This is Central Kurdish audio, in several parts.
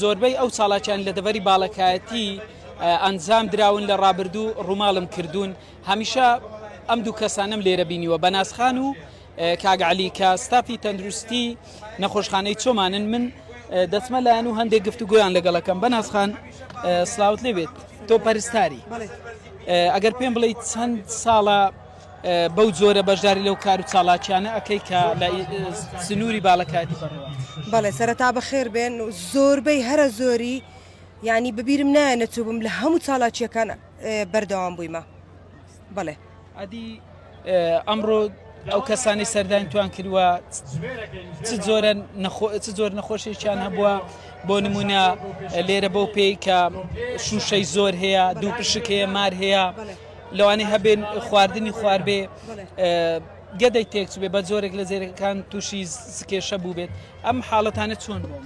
زۆربەی ئەو چالاکیان لە دەڤەری باڵەکایەتی ئەنجام دراون لە ڕابردوو ڕووماڵم کردوون هەمیشە ئەم دوو کەسانم لێرە بینیوە بە ناسخان و کاگعلی کە ستافی تەندروستی نەخۆشخانەی چۆمانن من دەچمە لایەن و هەندێک گفت و گویان لەگەڵەکەم بە ناسخان سلااوت لێ بێت تۆ پەرستاری ئەگەر پێم بڵیت چەند ساڵە بەو جۆرە بەشداری لەو کارو چاڵاکیانە ئەکەی کە لە سنوری باڵەکایەتی بەڕێوە. بەڵێ سەرەتا بەخێر بێن و زۆربەی هەرە زۆری یانی بەبیرم نایە نەچووبم لە هەموو چاڵاکیەکان بەردەوام بوویمە بەڵێ. ئەدی ئەمڕۆ ئەو کەسانی سەردانی توان کردوە چ زۆر نەخۆشێکیان هەبووە بۆ نمونە لێرە بۆ پێی کە شوشەی زۆر هەیە دوو پشک هەیە مار هەیە لەوانەیە هەبێن خواردنی خواربێ گەدەی تێکچبێ بە جۆرێک لە جێرەکان تووشی سکێشە بوو بێت ئەم حاڵەتانە چۆن بوو.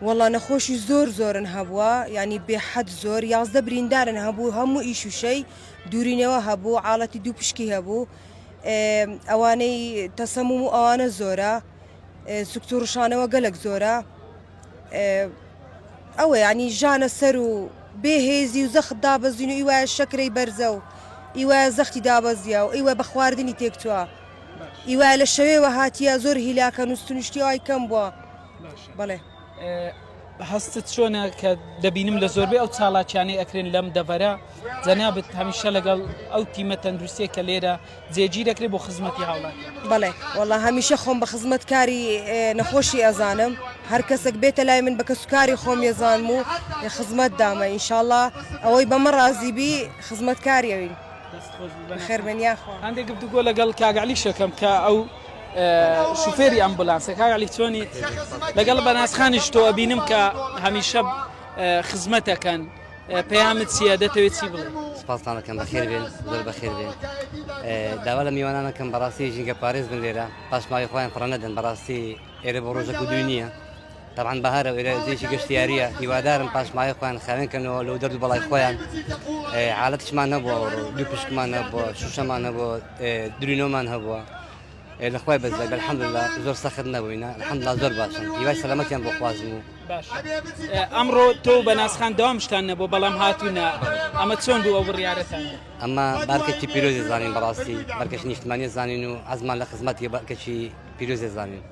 وەڵا نەخۆشی زۆر زۆرن هەبووە ینی بێحەد زۆر یازدە بریندارن هەبوو هەموو ئیشوشەی دوورینەوە هەبوو عاڵەتی دوو پشکی هەبوو ئەوانەی تەسەموم و ئەوانە زۆرە سکتوڕشانەوە گەلک زۆرە ئەوە یانی ژانە سەر و بێ هێزی و زەخت دابەزین و ئیوە شەکرەی بەرزە و ئیوە زەختی دابەزیا و ئیوە بە خواردنی تێکتووە ئیوە لە شەوێوە هاتیە زۆر هیلاکە نوستنیشتیوای کەم بووە بەڵێ هەستت چۆنە کە دەبینم لە زۆربەی ئەو چاڵاکیانەی ئەکرێن لەم دەڤەرە جەنابەت هەمیشە لەگەڵ ئەو تیمە تەندروستێک کە لێرە جێگیر دەکرێت بۆ خزمەتی هاوڵاتی. بەڵێ وەڵا هەمیشە خۆم بە خزمەت کاری نەخۆشی ئەزانم هەر کەسێک بێتە لای من بە کەسوکاری خۆم یەزانم و خزمەت دامە ئینشاءله ئەوەی بەمە ڕازیبی خزمەت کاریەوین خێرمن یاخوا هەندێک گفتوگۆ لەگەڵ کاگەعلی شەکەم کە ئەو شوفێری ئەمبولانسە کاگەعلی چۆنیت لەگەڵ بەناسخانیش تۆ ئەبینم کە هەمیشە خزمەتەکەن پەیامت چییە دەتەوێت چی بڵێ سپاسانەکەم بەخێر بێن زۆر بەخێر بێن داوا لە میوانانەکەم بەڕاستی ژینگە پارێز بن لێرە پاشماوی خۆیان پڕە نەدەن بەڕاستی ئێرە بۆ ڕۆژە کودوی نییە طبعاان بەهارە وێرەێکی گەشتیاریە هیوادارم پاشمای خۆیان خاوێنکەنەوە لەو دەرد بەڵای خۆیان حالتشمان نەبووە دوو پشکمان نەبووە شوشەمان نەبووە درینۆمان هەبووە لە خوای بەس دەبێت الحمدلله زۆر سەخت نەبووینە الحمدلله زۆر باشن هیوای سەلامەتیان بۆ خوازم و باش ئەمڕۆ تۆ بە ناسخان داوامشتان نەبوو بەڵام هاتوونە ئەمە چۆن بوو ئەو بڕیارەتان ئەمە بارکەکی پیرۆزی زانین بەڕاستی بەرکەش نیشتمانی زانین و ئەزمان لە خزمەتی بەکەچی پیرۆزی زانین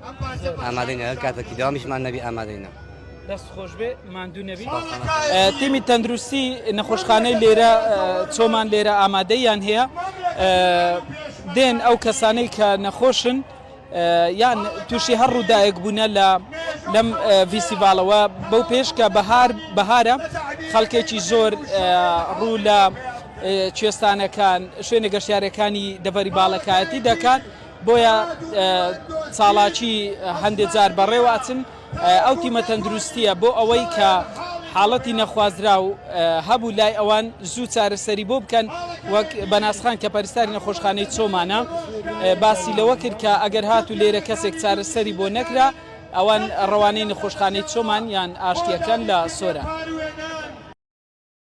ئامادەینە هەر کاتێکی داوامیشمان نەبی ئامادەینە دەست خۆشبێ ماندوو نەبی تیمی تەندروستی نەخۆشخانەی لێرە چۆمان لێرە ئامادەیان هەیە دێن ئەو کەسانەی کە نەخۆشن یان تووشی هەر ڕووداەک بوونە لە لەم ڤیسیڤالەوە بەو پێش کە بەهار بەهارە خەڵکێکی زۆر ڕوو لە کوێستانەکان شوێنە گەشتارەکانی دەڤەری باڵەکایەتی دەکات بۆیە ساڵاچی هەندێک جار بەڕێوە ئەچن ئەو تیمە تەندروستییە بۆ ئەوەی کە حاڵەتی نەخوازراو هەبوو لای ئەوان زوو چارەسەری بۆ بکەن وەک بەناسخان کە پەرستاری نەخۆشخانەی چۆمانە باسی لەوە کرد کە ئەگەر هات و لێرە کەسێک چارەسەری بۆ نەکرا ئەوان ڕەوانەی نەخۆشخانەی چۆمان یان ئاشتیەکان لە سۆران.